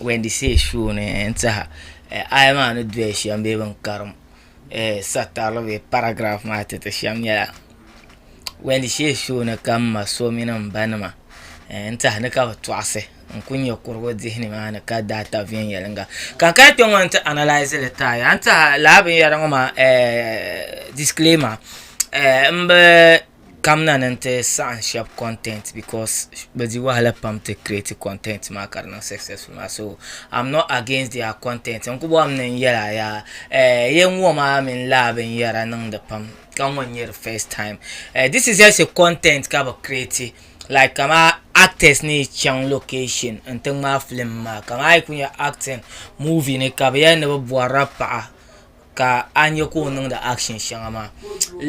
Wendy say show ni n tiɛha eh, aya maa ni doya shɛm bee bin karim eh, satarili bee paragraf maa titi shɛm nyɛla Wendy say show ni ka m ma so mini m ba nima eh, n tiɛha ni ka bi tɔɣisi n ku nyɛ kurugu dihi nimaani ka daa ta viɛnyɛlinga ka n kana kpɛ ŋɔ n ti analyse li taaya a ni tiɛha laa binyɛra ŋɔ maa eh, disclaimer eh, n bi kamina ni n ti saɣam shɛba content because bi di wahala pam ti create content maa ka di niŋ successful maa so I'm not against their content n ku bɔhim ni n yɛla yaa eh, yɛn ŋɔ maa mini laa binyɛra niŋdi pam ka ŋɔ n nyɛ di first time eh, this is just a content ka bi create like kama actors ni chaŋ location n ti ŋmaa film maa kama a yi ku nya acting movie ni ka bi yɛli ni bi bɔrila paɣa ka a nya ka o niŋdi action shɛŋa maa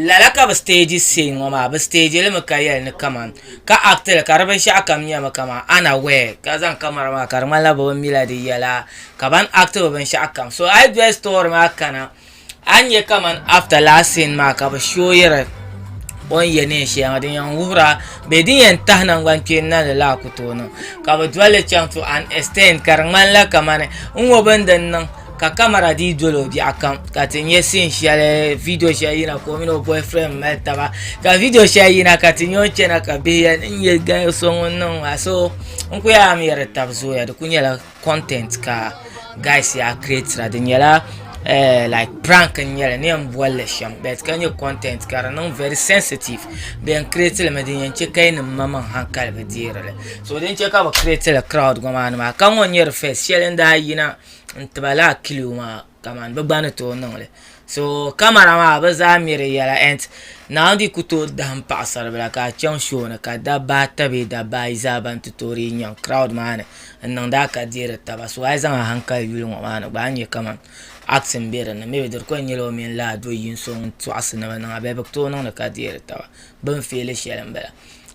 lala ka bi stage scene ŋɔ maa bi stage li mi ka yɛli ni kaman ka act li ka di binshaɣu kam nyɛmi kaman unaware ka zaŋ camera maa ka di ŋmanila bi bi mi la di yɛla ka ban act bi binshaɣu kam so a yi doli story maa kana. A ni nya kaman after last scene maa ka bɛ showiri o ni ye neen shɛli ŋɔ din yɛn wuhira bee din yɛn tahi nangbani kpeeni na ni lala ku tooi niŋ ka bɛ dolli chaŋ to an extent ka di ŋmanila kaman n ŋɔ bini di ni niŋ ka camera dii doli o biɛɣu kam ka ti nya scene shɛli video shɛli yina ka o mini o boy friend mali taba ka video shɛli yina ka ti nya o ni chana ka bihi yɛli n nya gal so ŋun niŋ maa so n ku yɛli a mi yɛri di tab zooya di ku nyɛla content ka guys yaa creatira di nyɛla eh, like prank n nyɛli ni yɛn bolli shɛm bet ka nyɛ content ka di niŋ very sensitive bi yɛn create li mi din yɛn chɛ ka yi nim ma maŋ hankali bi deeri li so din chɛ ka bi create li crowd gba maa ni maa ka ŋɔ nyɛ di first shɛli n daa yina n tiba laa kilo maa kamani bɛ gba ni tooi niŋ li so kamara maa bɛ zaa ŋme di yɛla and Naawuni ku tooi dahim paɣisaribila ka a chaŋ show ni ka dabba ata bee dabba ayi zaa ban ti tooi dii nyaŋ crowd maa ni n-niŋdi a ka deeri taba so a yi zaŋ a hankali yuli ŋɔ maa ni gba a ni nya kamani acting be di ni maybe di di kuli nyɛla o mini laa do yini so ŋun tɔɣisi ni bɛ niŋ a bee bɛ ku tooi niŋdi ka deeri taba bɛ ni feeli shɛli m-bala.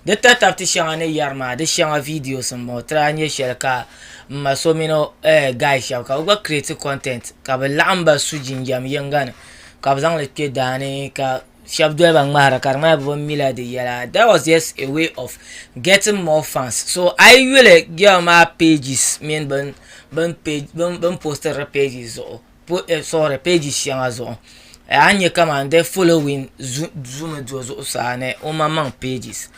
Di tatabiti shɛŋa ni yɛri maa di shɛŋa videos n bɔŋɔ tira nyɛ shɛli ka n ma so mini eh, guy shɛba ka bɛ gba create content ka bɛ laɣim ba su jinjam yiŋga ni ka bɛ zaŋli kpe daani ka shɛba doli ba ŋmahira ka di ŋmanila bɛ bi mi la di yɛla that was just a way of getting more fans so a yi yuli girl maa pages mini bini postiri di pages zuɣu. po eh sorry page shɛŋa zuɣu eh, a nyɛ kaman the following zumi do zuɣusaa ni o maŋmaŋ pages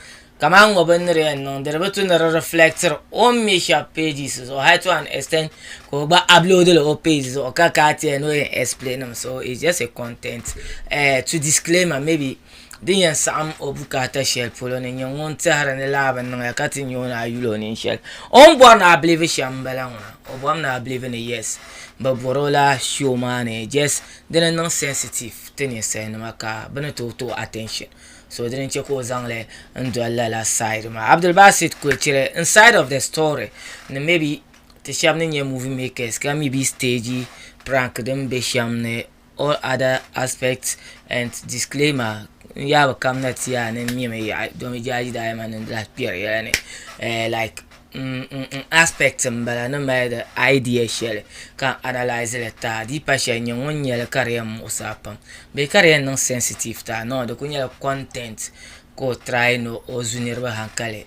kaman ŋɔ bin ni di yɛn niŋdi di bi tu ni di reflectiri o ni mi shɛba pages zuɣu hali to an extent ka o gba upload li o page zuɣu ka ka ti yɛn ni o yɛn explain mi so it's just a content eh, to disclaimer maybe Din yɛn saɣim o bukaata shɛli polo ni nyɛ ŋun tɛhiri ni laa bi niŋ ya ka ti nya o ni a yuli o nini shɛli. O ni bɔri ni a bilivi shɛm m-bala ŋɔ na. O bɔrimi ni a bilivi ni yes. Bɛ bɔri o la show maa ni just dini niŋ sensitive ti ninsalinima ka bɛ ni tooi tooi attention. So dini n-chɛ ka o zaŋ li n-doli lala side maa. Abdulbasit kuli chɛli n side of the story ni maybe ti shɛba ni nyɛ movie makers ka mi be stage prank din be shɛm ni all other aspects and disclaimer n yaa bi kamina ti yaa ni n mimi yaɣi domi jaaji daadama ni lahi kpɛri yɛla ni like aspect n bala ni mali di idea shɛli ka n analyse li taa di yi pa shɛli n nyɛ ŋun nyɛli ka di yɛn muɣisi a pam bee ka di yɛn niŋ sensitive taa no di ku nyɛla content ka o try ni o zu niriba hankali